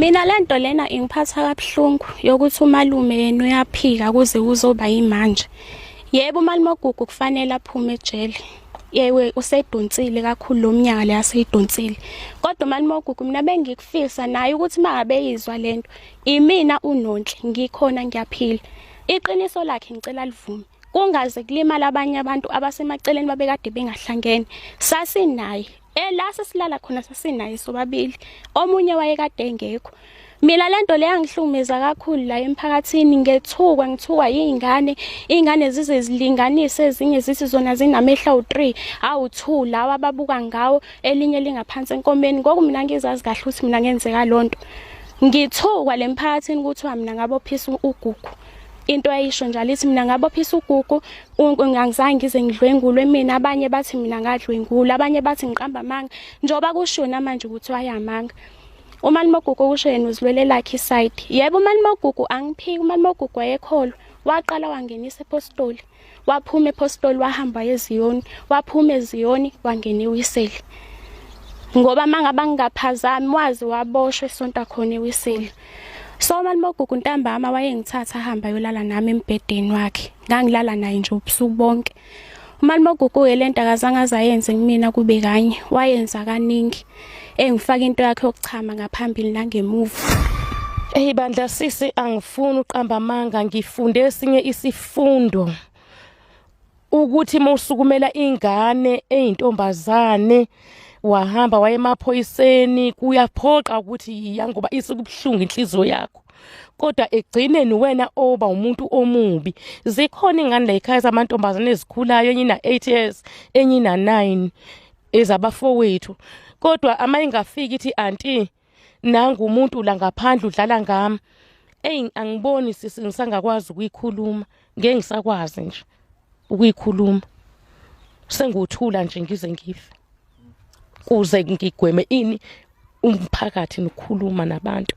Mina lento lena ingiphatha kabuhlungu yokuthi umalume yena uyaphika kuze kuzoba yimanje. Yebo umalimogugu kufanele aphume ejele. Yewe usedonsile kakhulu lomnyaka le asidonsile. Kodwa umalimogugu mina bengikufisa naye ukuthi mangabe yizwa lento. Imina unonhle ngikhona ngiyaphila. Iqiniso lakhe ngicela livume. kungaze kulimala abanye abantu abasemaceleni babekade bengahlangene sasinaye ela sesilala khona sasinaye sobabili omunye wayekade engekho mina lento le yangihlumeza kakhulu la emphakathini ngethukwa ngithukwa yingane ingane zize zilinganise ezinye zithi zona zinamehla u3 awu2 lawa babuka ngawo elinye lingaphansi enkomeni ngoku mina ngizazi kahle ukuthi mina ngenzeka lonto ngithukwa lemphakathini kuthiwa mina ngabophisa ugugu into ayisho njalo ithi mina ngabophisa ugugu ngangizange ngize ngidlwengulwe mina abanye bathi mina ngadlwengula abanye bathi ngiqamba amanga njengoba kusho namanje ukuthi wayamanga umalimogugu kusho yena uzilwele lakhe isayidi yebo umalimogugu angiphiki umalimogugu wayekholwa waqala wangenisa ephostoli waphuma ephostoli wahamba eziyoni waphuma eziyoni wangena ewiseli ngoba mangaba ngingaphazami wazi waboshwe sonta khona ewiseli so mali mogugu ntambama wayengithatha ahamba yolala nami embhedeni wakhe ngangilala naye nje ubusuku bonke umalimogugu ke lento akazange azayenze kumina kube kanye wayenza kaningi Ey ngifaka into yakhe yokuchama ngaphambili nangemuva. Ey bandla sisi angifuni uqamba amanga ngifunde esinye isifundo. ukuthi musukumela ingane eyintombazane wahamba wayemaphoyiseni kuyaphoqa ukuthi yiya ngoba isikubuhlungu inhliziyo yakho kodwa egcineni wena oba umuntu omubi zikhona ingane la ekhaya zamantombazane ezikhulayo enye ina-8 years enye ina-9 ezabafowethu kodwa ama ingafiki ithi anti nangu umuntu la ngaphandle udlala ngami eyi angiboni sisi ngisangakwazi ukuyikhuluma ngeke ngisakwazi nje ukuyikhuluma senguthula nje ngize ngife kuze ngigweme ini umphakathi nokukhuluma nabantu